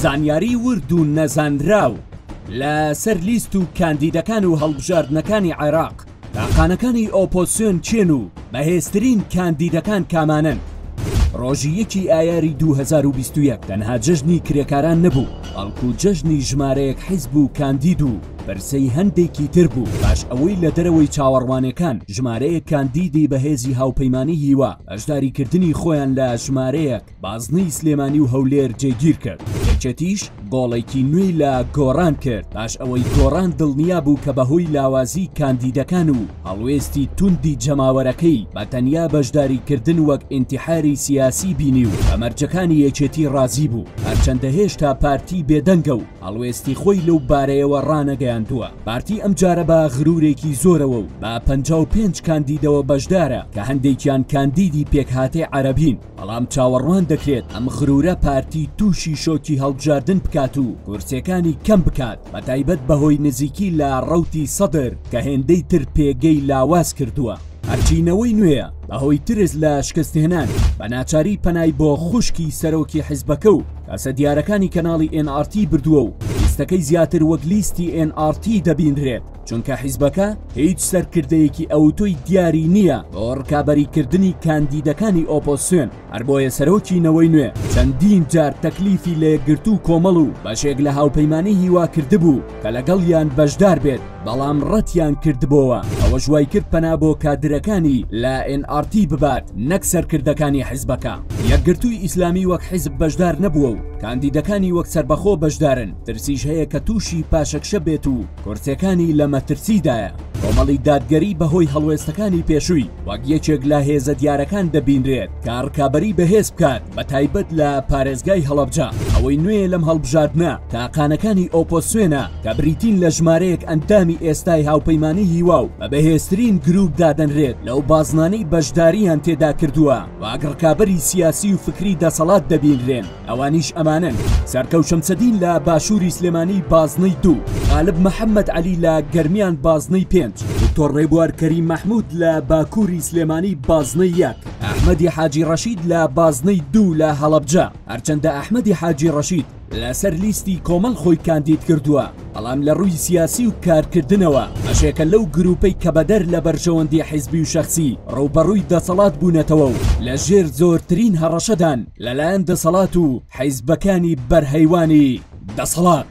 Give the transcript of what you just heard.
زانیاریی ورد و نەزانراو لە سەر لیست و کاندیدەکان و هەڵبژاردنەکانی عێراق، تاقانەکانی ئۆپۆسیۆن کێن و بەهێزترین کاندیدەکان کامانەن؟ ڕۆژی یەکی ئایاری دوو هەزار و بیست و یەک تەنها جەژنی کرێکاران نەبوو، بەڵکو جەژنی ژمارەیەک حیزب و کاندید و پرسەی هەندێکی تر بوو، پاش ئەوەی لە دەرەوەی چاوەڕوانێکان ژمارەیەک کاندیدی بەهێزی هاوپەیمانیی و. بەشداری کردنی خۆیان لە ژمارەیەک بازنەی سلێمانی و هەولێر جێگیر کرد یەکێتیش گۆڵێکی نوێی لە گۆڕان کرد پاش ئەوەی گۆڕان دڵنیا بوو کە بەهۆی لاوازی کاندیدەکان و هەڵوێستی توندی جەماوەرەکەی بە تەنیا بەشداری کردن وەک ئینتیحاری سیاسی بینی و بە مەرجەکانی یەکێتی ڕازی بوو هەرچەندە هێشتا پارتی بێدەنگە و هەڵوێستی خۆی لەو بارەیەوە ڕانەگەیاندووە، پارتی ئەمجارە بە غرورێکی زۆرەوە و بە پەنجا و پێنج کاندیدەوە بەشدارە کە هەندێکیان کاندیدی پێکهاتەی عەرەبین، بەڵام چاوەڕوان دەکرێت ئەم غرورە پارتی تووشی شۆکی هەڵبژاردن بکات و کورسیەکانی کەم بکات، بەتایبەت بەهۆی نزیکی لە ڕەوتی سەدر کە هێندەی تر پێگەی لاواز کردووە. هەرچی نەوەی نوێیە بەهۆی ترس لە شکستهێنان بەناچاری پەنای بۆ خوشکی سەرۆکی حزبەکە و، تاسە دیارەکانی کەناڵی ئێن ئاڕ تی بردووە و لیستەکەی زیاتر وەک لیستی ئێن ئاڕ تی دەبینرێت چونکە حیزبەکە هیچ سەرکردەیەکی ئەوتۆی دیاری نییە بۆ ڕکابەریکردنی کاندیدەکانی ئۆپۆسیۆن هەر بۆیە سەرۆکی نەوەی نوێ چەندین جار تەکلیفی لە یەکگرتوو کۆمەڵ و بەشێک لە هاوپەیمانانی هیوا کردبوو کە لەگەڵیان بەشدار بێت بەڵام ڕەتیان کردبەوە ئەوەش وای کرد پەنا بۆ کادرەکانی لە NRT ببات نەک سەرکردەکانی حزبەکە یەکگرتووی ئیسلامی وەک حزب بەشدار نەبووە و کاندیدەکانی وەک سەربەخۆ بەشدارن ترسیش هەیە کە تووشی پاشەکشە بێت و کورسەکانی لە مەترسیدایە کۆمەڵی دادگەری بەهۆی هەڵوێستەکانی پێشووی وەک یەکێک لە هێزە دیارەکان دەبینرێت تا ڕکابەری بەهێز بکات بە تایبەت لە پارێزگای هەڵەبجە ئەوەی نوێ لەم هەڵبژاردنە تاقانەکانی ئۆپۆسیۆنە کە بریتین لە ژمارەیەک ئەندامی ئێستای هاوپەیمانانی هیوا و بە بەهێزترین گروپ دادەنرێت لەو بازنانەی بەشداریان تێدا کردووە واک ڕکابەری سیاسی و فکری دەسەڵات دەبینرێن ئەوانیش ئەمانن سەرکەو شەمسەدین لە باشووری سلێمانی بازنەی دوو غالب محەممەد علی لە گەرمیان بازنەی پێنج دکتۆر ڕێبوار کەری مەحمود لە باکووری سلێمانی بازنەی یەک ئەحمەدی حاجی ڕەشید لە بازنەی دوو لە هەڵەبجە هەرچەندە ئەحمەدی حاجی ڕەشید لەسەر لیستی کۆمەڵ خۆی کاندید کردووە بەڵام لە ڕووی سیاسی و کارکردنەوە بەشێکە لەو گروپەی کە بەدەر لە بەرژەوەندی حیزبی و شەخسی ڕووبەڕووی دەسەڵات بوونەتەوە و لە ژێر زۆرترین هەڕەشەدان لەلایەن دەسەڵات و حیزبەکانی بەرهەیوانی دەسەڵات.